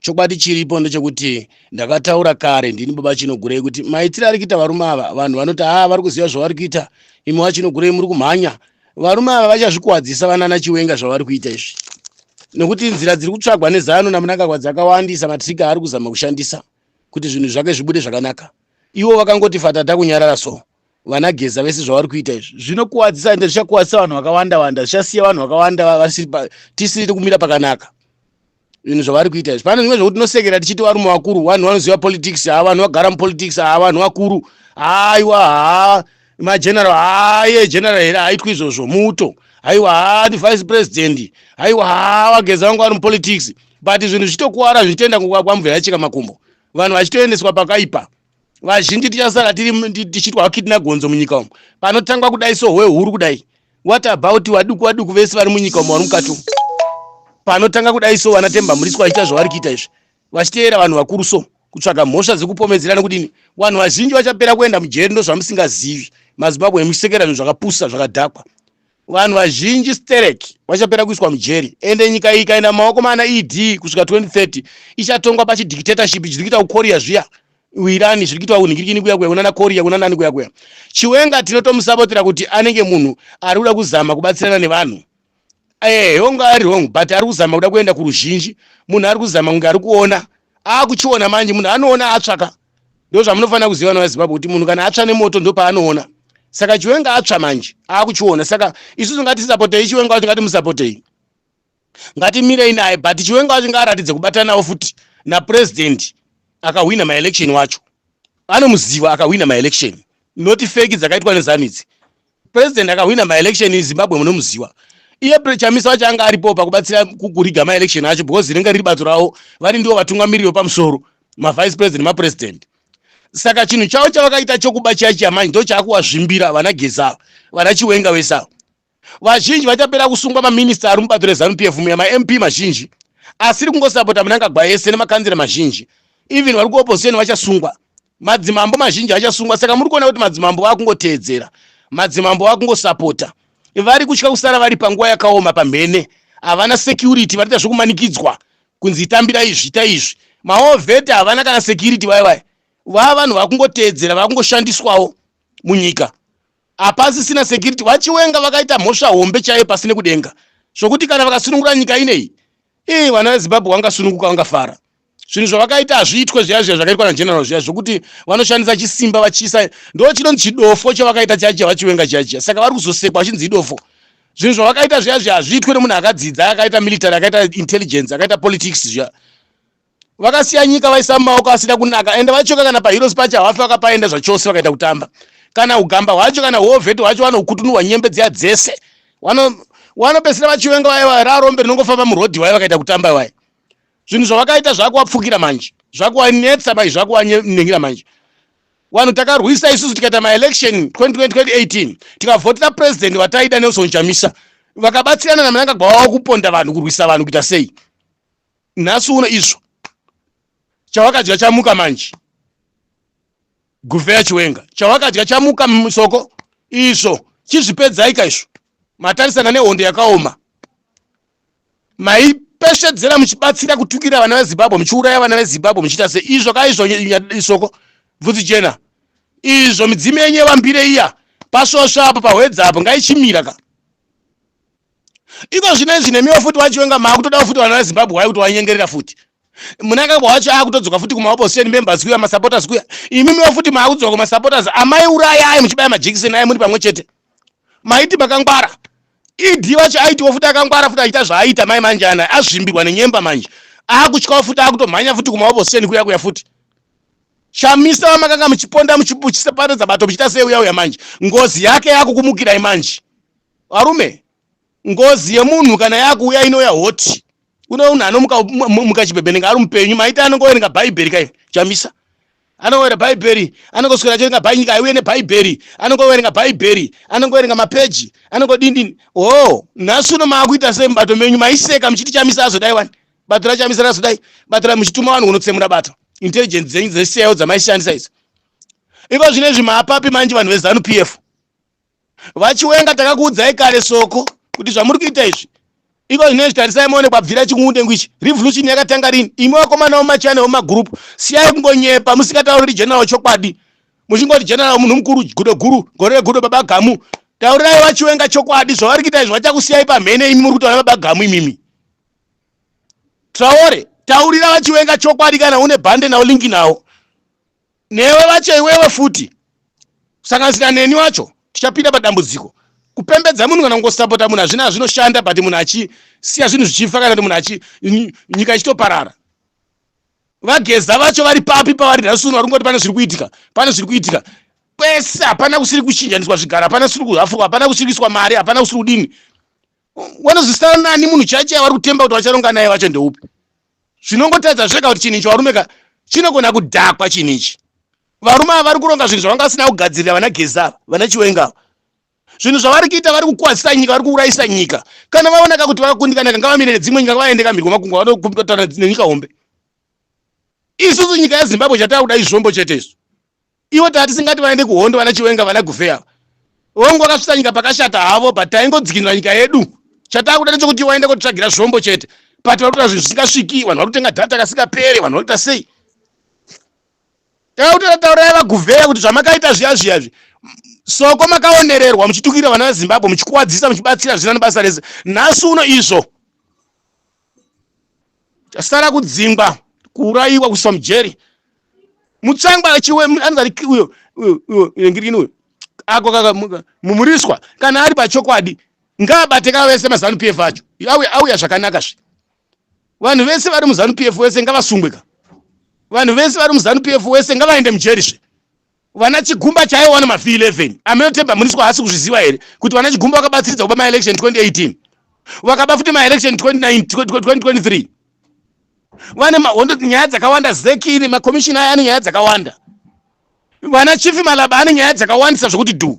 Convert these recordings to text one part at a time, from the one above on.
Chokwadi chiripo ndechekuti ndakataura kare ndini baba chinogurei kuti maitire ari kuita varume ava vanhu vanoti haa ah, vari kuziva zvavari kuita imi wachinogurei muri kumhanya varume ava vachazvikuwadzisa vanana chiwenga zvavari kuita izvi nekuti nzira dziri kutsvagwa nezano namunangagwa dzakawandisa matrika aari kuzama kushandisa kuti zvinhu zvake zvibude zvakanaka ivo vakangoti fatata kunyarara so vana geza vese zvavari kuita izvi zvinokuwadzisa ende zvichakuwadzisa vanhu vakawanda wanda zvichasiya vanhu vakawanda vasiri tisiri kumira pakanaka zvinhu zvavari kuita izvi pane zvimwe zvekuti tinosekera tichiti varume vakuru vanhu vanoziva politics haa vanhu vagara mupolitics haa vanhu vakuru haiwa haa mageneral haaye general here haitwi izvozvo muto haiwa haa ndivice president haiwa haa vageza vangu vari mupolitics but zvinhu zvichitokuwara zvichitoenda kwamvura yachika makumbo vanhu vachitoendeswa pakaipa vazhinji tichasara tiri tichitwa kidna gonzo munyika umu panotangwa kudai so hwehuru kudai what about waduku waduku vese vari munyika umu vari mukati umu panotanga kudai so vana temba muriswa vachiita zvavari kuita izvi vachiteera vanhu vakuru so kutsvaga mhosva dzekupomedzerana kudini vanhu vazhinji vachapera kuenda mujeri ndozvamusingazivi mazimbabwe emuchisekera zvinhu zvakapusa zvakadhakwa vanhu vazhinji sterek vachapera kuiswa mujeri ende nyika iyi ikaenda mumaoko maana ed kusvika 2030 ichatongwa pachidictatorship chiri kuita kukorea zviya uirani zviri kuitwa kunhingirikini kuya kuya kunana korea kunanani kuya kuya chiwenga tinotomusapotera kuti anenge munhu ari kuda kuzama kubatsirana nevanhu ehe wrong ari wrong but ari kuzama kuda kuenda kuruzhinji munhu ari kuzama kunge ari kuona aakuchiona manje munhu anoona atsvaka ndozvamunofanira kuziva vana vezimbabwe kuti munhu kana atsva nemoto ndopaanoona saka chiwenga atsva manje akuchiona saka isusu ngatisapotei chiwenga wacho ngatimusapotei ngatimirei naye but chiwenga wacho ngaaratidze kubatanawo futi napurezidendi akahwina maelection wacho anomuziva akahwina maelection not feki dzakaitwa nezanu idzi President akahwina maelection eZimbabwe munomuziwa iye Chamisa wacho anga aripo pakubatsira kuriga maelection acho because rinenge riri bato ravo vari ndivo vatungamiriri vepamusoro mavice president nemapresident saka chinhu chavo chavakaita chokuba chiya chiya manje ndo chaakuwazvimbira vana gezava vana chiwenga vese ava vazhinji vachapera kusungwa maminista ari mubato rezanu p f muya mamp mazhinji asiri kungosapota munangagwa ese nemakanzira mazhinji even vari kuopposition vachasungwa Madzimambo mazhinji achasungwa saka muri kuona kuti madzimambo vakungoteedzera. Madzimambo vakungosapota. Vari kutya kusara vari panguva yakaoma pamhene. Havana security vanoita zvekumanikidzwa kunzi itambira izvi ita izvi. Maovheta havana kana security vaya vaya. Vava vanhu vakungoteedzera vakungoshandiswawo munyika. Hapasisina security. VaChiwenga vakaita mhosva hombe chaiye pasi nekudenga. Zvokuti kana vakasunungura nyika ineyi. Ii vana veZimbabwe vangasununguka vangafara. zvinhu zvavakaita hazviitwe zviya zviya zvakaitwa nageneral zviya zvokuti vanoshandisa chisimba vachiisa ndo chinonzi chidofo chavakaita chiya chiya vachiwenga chiya chiya saka vari kuzosekwa vachinzi idofo zvinhu zvavakaita zviya zviya hazviitwe nemunhu akadzidza akaita military akaita intelligence akaita politics zviya vakasiya nyika vaisa mumaoko asina kunaka ende vachoka kana paheroes pacho havafi vakapaenda zvachose vakaita kutamba kana ugamba hwacho kana hovheti hwacho vanokutunurwa nyembe dziya dzese wanopesera vachiwenga vaye vaye rarombe rinongofamba murodhi waye vakaita kutamba waye zvinhu zvavakaita zvakuwapfukira manje zvakuwanetsa mai zvakuwanengira manje vanhu takarwisa isusu tikaita maelection 2018 tikavhotera president vataida nelson chamisa vakabatsirana namanangagwa wavo kuponda vanhu kurwisa vanhu kuita sei nhasi uno izvo chawakadya chamuka manje guvheya chiwenga chawakadya chamuka musoko izvo chizvipedzaika izvo matarisana nehondo yakaoma maipeshedzera muchibatsira kutukira vana vezimbabwe muchiuraya vana vezimbabwe muchiita se izvo ka izvo isoko bvudzi jena izvo midzimu yenyu yevambire iya pasvosve apo pahwedza apo ngaichimira ka iko zvino izvi nemiwo futi wachiwenga maakutodawo futi vana vezimbabwe wai kuti wanyengerera futi munangagwa wacho akutodzoka futi kumaopposition members kuya masupporters kuya imimiwo futi maakudzoka kumasupporters amaiuraya ayi muchibaya majekiseni ayi muri pamwe chete maiti makangwara ed vacho aitiwo futi akangwara futi achiita zvaaita mai manje ana azvimbirwa nenyemba manje akutyawo futi akutomhanya futi kumahoboseni kuya kuya futi chamisa vamakanga muchiponda muchiseparedza bato muchiita seuya uya manje ngozi yake yakukumukirai manje varume ngozi yemunhu kana yakuuya inouya hoti kune unhu anomuka muka chibhebhenenga ari mupenyu maita anongoverenga bhaibheri kai chamisa anongoverenga bhaibheri anongoswera achiverenga bhaibheri nyika aiuye nebhaibheri anongoverenga bhaibheri anongoverenga mapeji anongodindini o oh, nhasi uno maakuita sei mubato menyu maiseka muchiti chamisa azodai wani bato rachamisa razodai bato ra muchituma vanhu kunotsemura bato intelligence dzenyu dzesiyayo dzamaishandisa idzo iko zvine zvi maapapi manje vanhu vezanu p f vachiwenga takakuudzai kare soko kuti zvamuri kuita izvi iko zvinezvi tarisai maone kwabvira chikungudengu ichi revolution yakatanga rini imi vakomana vomachina vomagroup siyai kungonyepa musikatauriri general chokwadi muchingoti general munhu mukuru gudo guru gore regudo baba gamu taurirai vachiwenga chokwadi zvavari kuita izvi vachakusiyai pamhene imi muri kuti vana baba gamu imimi traore taurira vachiwenga chokwadi kana une bhande nawo linki nawo newe vacho iwewe futi kusanganisira neni wacho tichapinda padambudziko kupembedza munhu kana kungosapota munhu hazvina zvinoshanda but munhu achisiya zvinhu zvichifa kana kuti munhu achi nyika ichitoparara vageza vacho vari papi pavari nhasi uno vari kungoti pane zviri kuitika pane zviri kuitika kwese hapana kusiri kuchinjaniswa zvigara hapana kusiri kuhafurwa hapana kusiri kuiswa mari hapana kusiri kudini wanozwisana nani munhu chaicho yavari kutemba kuti vacharonga naye vacho ndeupi zvinongotaridza zvega kuti chinhu ichi varume ka chinogona kudhakwa chinhu ichi varume ava vari kuronga zvinhu zvavanga vasina kugadzirira vana gezi ava vana chiwenga ava zvinhu zvavari kuita vari kukwazisa nyika vari kuurayisa nyika kana vaonaka kuti vakakundikana kanga vamire nedzimwe nyika vaende kamhirwa makungwa vanokumbitana nenyika hombe isusu nyika yezimbabwe chatakuda izvombo chete isu ivo tava tisingati vaende kuhondo vana chiwenga vana gufe ava vongu vakasvitsa nyika pakashata havo but taingodzikinura nyika yedu chataa kuda ndechokuti waenda kotitsvagira zvombo chete but vari kuta zvinhu zvisingasviki vanhu vari kutenga dhata kasingapere vanhu vari kuita sei takakutara taurai vaguvheya kuti zvamakaita zviya zviya zvi soko makaonererwa muchitukira vana vezimbabwe muchikuwadzisa muchibatsira zvina nebasa rese nhasi uno izvo Tasara kudzingwa, kuurayiwa, kuiswa mujeri. Mutsangwa achiwe anozari uyo uyo uyo ngirini uyo ako kaka mumuriswa kana ari pachokwadi ngaabate ka vese mazanu PF acho auya auya zvakanaka zve vanhu vese vari muzanu PF wese ngavasungwe ka vanhu vese vari muzanu PF wese ngavaende mujeri zve Vana Chigumba chaiwo wana mafi 11. Ameno Themba Mliswa haasi kuzviziva here kuti vana Chigumba vakabatsiridza kuba maelection 2018? Vakaba futi maelection 2023. Vane mahondo nyaya dzakawanda zeki ine makomishina aya ane nyaya dzakawanda. Vana Chief Malaba ane nyaya dzakawandisa zvokuti dhu.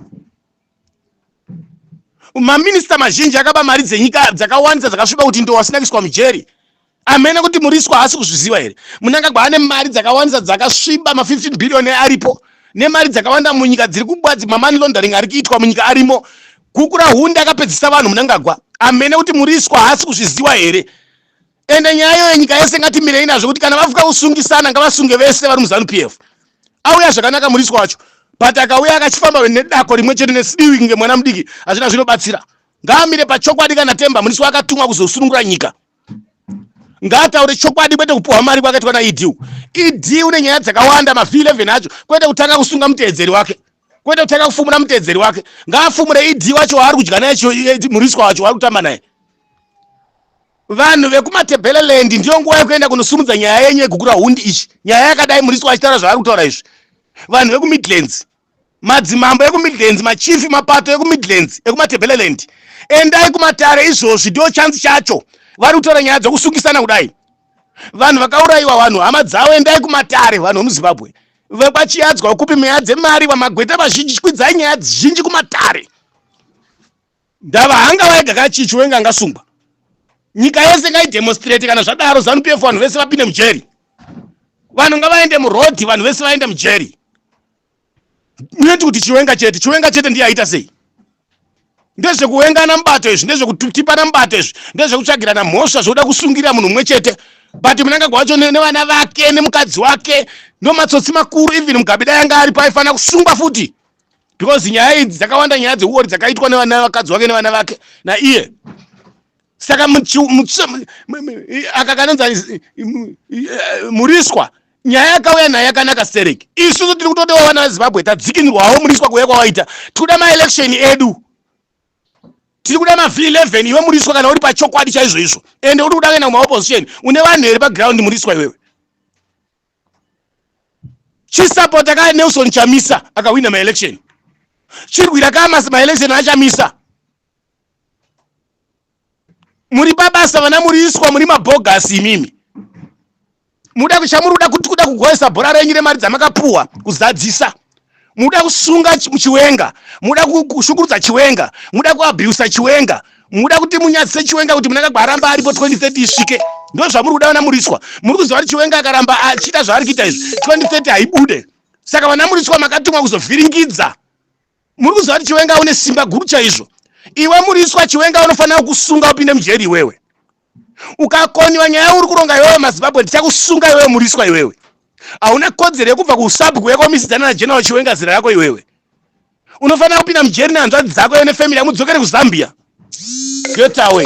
maminista mazhinji akaba mari dzenyika dzakawandisa dzakasviba kuti ndo wasina kuiswa mujeri amene kuti muriswa haasi kuzviziva here munangagwa ane mari dzakawandisa dzakasviba ma15 billion aripo nemari dzakawanda munyika dziri kubwadzi mamani laundering ari kuitwa munyika arimo kukura hunde akapedzisa vanhu munangagwa amene kuti muriswa haasi kuzviziva here ende nyaya iyoyo nyika yese ngatimirei nazvo kuti kana vafuka kusungisana ngavasunge vese vari muzanu p f auya zvakanaka murisi wacho but akauya akachifamba nedako rimwe chete nesidiwi kunge mwana mudiki hazvina zvinobatsira ngaamire pachokwadi kana temba murisi waakatumwa kuzosunungura nyika ngaataure chokwadi kwete kupuhwa mari kwakaitwa naed ed une nyaya dzakawanda mavhi 11 acho kwete kutanga kusunga muteedzeri wake kwete kutanga kufumura muteedzeri wake ngaafumure ed wacho waari kudya naye murisikwa wacho waari kutamba naye Vanhu vekuMatebeleland ndiyo nguva yekuenda kunosumudza nyaya yenyu yegukura hundi ichi. Nyaya yakadai Muriso achitaura zvaari kutaura izvi. Vanhu vekuMidlands, madzimambo ekuMidlands, machief mapato ekuMidlands ekuMatebeleland. Endai kumatare izvozvi ndiyo chance chacho. Vari kutaura nyaya dzokusukisana kudai. Vanhu vakaurayiwa vanhu hama dzavo endai kumatare vanhu vemuZimbabwe. Vekwachiyadzwa kupi meya dzemari vamagweta vazhinji kwidzai nyaya dzizhinji kumatare. ndava hanga vaega ka chichiwenga angasungwa nyika yese ngaidemonstrate kana zvadaro zanu pf vanhu vese vapinde mujeri vanhu ngavaende murodhi vanhu vese vaende mujeri munoti kuti chiwenga chete chiwenga chete ndiye aita sei ndezvekuwengana mubato izvi ndezvekutipana mubato izvi ndezvekutsvagirana mhosva zvokuda kusungirira munhu mumwe chete but munangagwa wacho nevana vake nemukadzi wake ndomatsotsi makuru even mugabida yanga aripo aifanira kusungwa futi because nyaya idzi dzakawanda nyaya dzeuori dzakaitwa nevana vakadzi wake nevana vake naiye saka aka kanonzi muriswa nyaya yakauya nayo yakanaka sterek isusu tiri kutodewa vana vezimbabwe tadzikinirwawo muriswa kuuya kwawaita tikuda maelection edu tiri kuda maveleven iwe muriswa kana uri pachokwadi chaizvoizvo ende uri kuda kuenda kumaopposition une vanhu here paground muriswa iwewe chisapota ka nelson chamisa akahwina maelection chirwira ka maelection achamisa muri pabasa vana muriiswa muri mabhogasi imimi muda chamuri kuda kuti kuda kugoesa bhora renyu remari dzamakapuwa kuzadzisa muda kusunga chiwenga muda kushungurudza chiwenga muda kuabusa chiwenga muda kuti munyadzise chiwenga kuti munangagwa aramba aripo 2030 isvike ndo zvamuri kuda vana muriswa muri kuziva kuti chiwenga akaramba achiita zvaari kuita izvi 2030 haibude saka vana muriswa makatumwa kuzovhiringidza muri kuziva kuti chiwenga une simba guru chaizvo iwe muriswa chiwenga unofanira kusunga upinde mujeri iwewe ukakonyiwa nyaya yauri kuronga iwewe mazimbabwe ndichakusunga iwewe muriswa iwewe hauna kodzero yekubva kuusabhuku yako misidzana nageneral chiwenga zira rako iwewe unofanira kupinda mujeri nehanzvadzi dzako iwe nefamily yamudzokere kuzambia get away